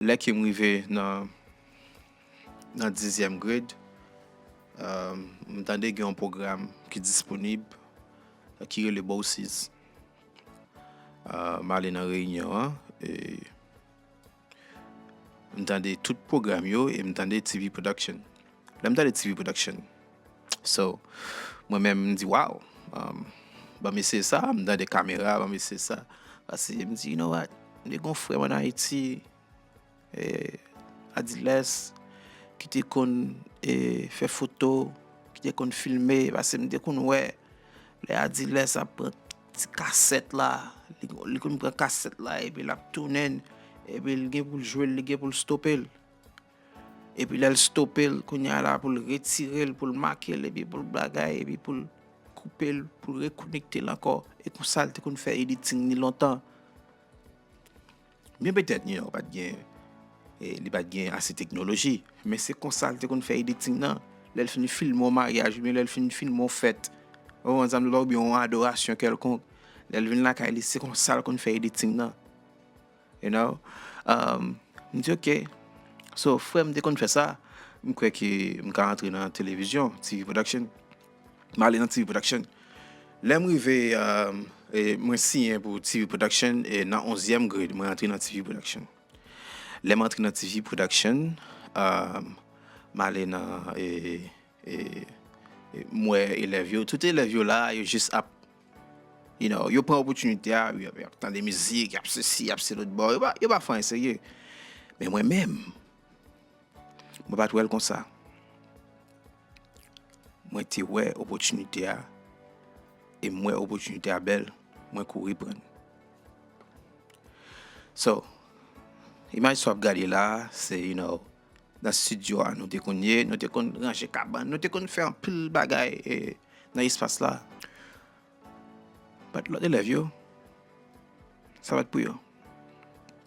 Lè ke m rive nan nan dizyèm grade, m tande gen yon pwogram ki disponib ki rele Bourses. M ale nan reyinyon an e m tande tout pwogram yo e m tande TV production. Lèm tande TV production so mwen menm m di waw banm eseye sa m tande kamera banm eseye sa pase m di you know what m te gon frèm an ayiti Adilès ki te konn fè foto ki te konn filme pase m te konn wè lè Adilès ap pran ti kasèt la li konn pran kasèt la epi lap tounen epi l gen pou l jwe l li gen pou l stope l. Epi lèl stopel kounya la poul retirel poul makel epi poul bagay epi poul koupel poul rekonektel ankò e konsal te konn fè editing li lontan byen petèt new york pat gen li pat gen ase teknoloji men se konsal te konn fè editing nan lèl fin filme yon maryaj oubyen lèl fin filme yon fèt ou konn sam oubyen yon adorasyon kelkonk lèl vin lakay li se konsal konn fè editing nan. You know, um, m di ok. So, frè m te konn fè sa, m kwè ke m ka antre nan televizyon, TV production. M ale nan TV production. Lè m rive, um, e mwen siyen pou TV production, e nan onzyèm grade, mwen antre nan TV production. Lè m antre nan TV production, um, m ale nan, e, M wè elèv yo, tout elèv yo la, yo jis ap, you know, yo pran opòtinite a, yo ap tande mizik, yo ap se si, yo ap se lòt, bon, yo pa fè anyen serye. Men mwen menm, mwen pa t wè l konsa. Mwen te wè opòtinite a, e m wè opòtinite a bèl, mwen kouri pran l. So, imaj sa w ap gade la a, se, you know, nan studio a nou te konn ye, nou te konn ranje kabann, nou te konn fè anpil bagay nan espas la. But lòt elèv yo, sa pa t pou yo.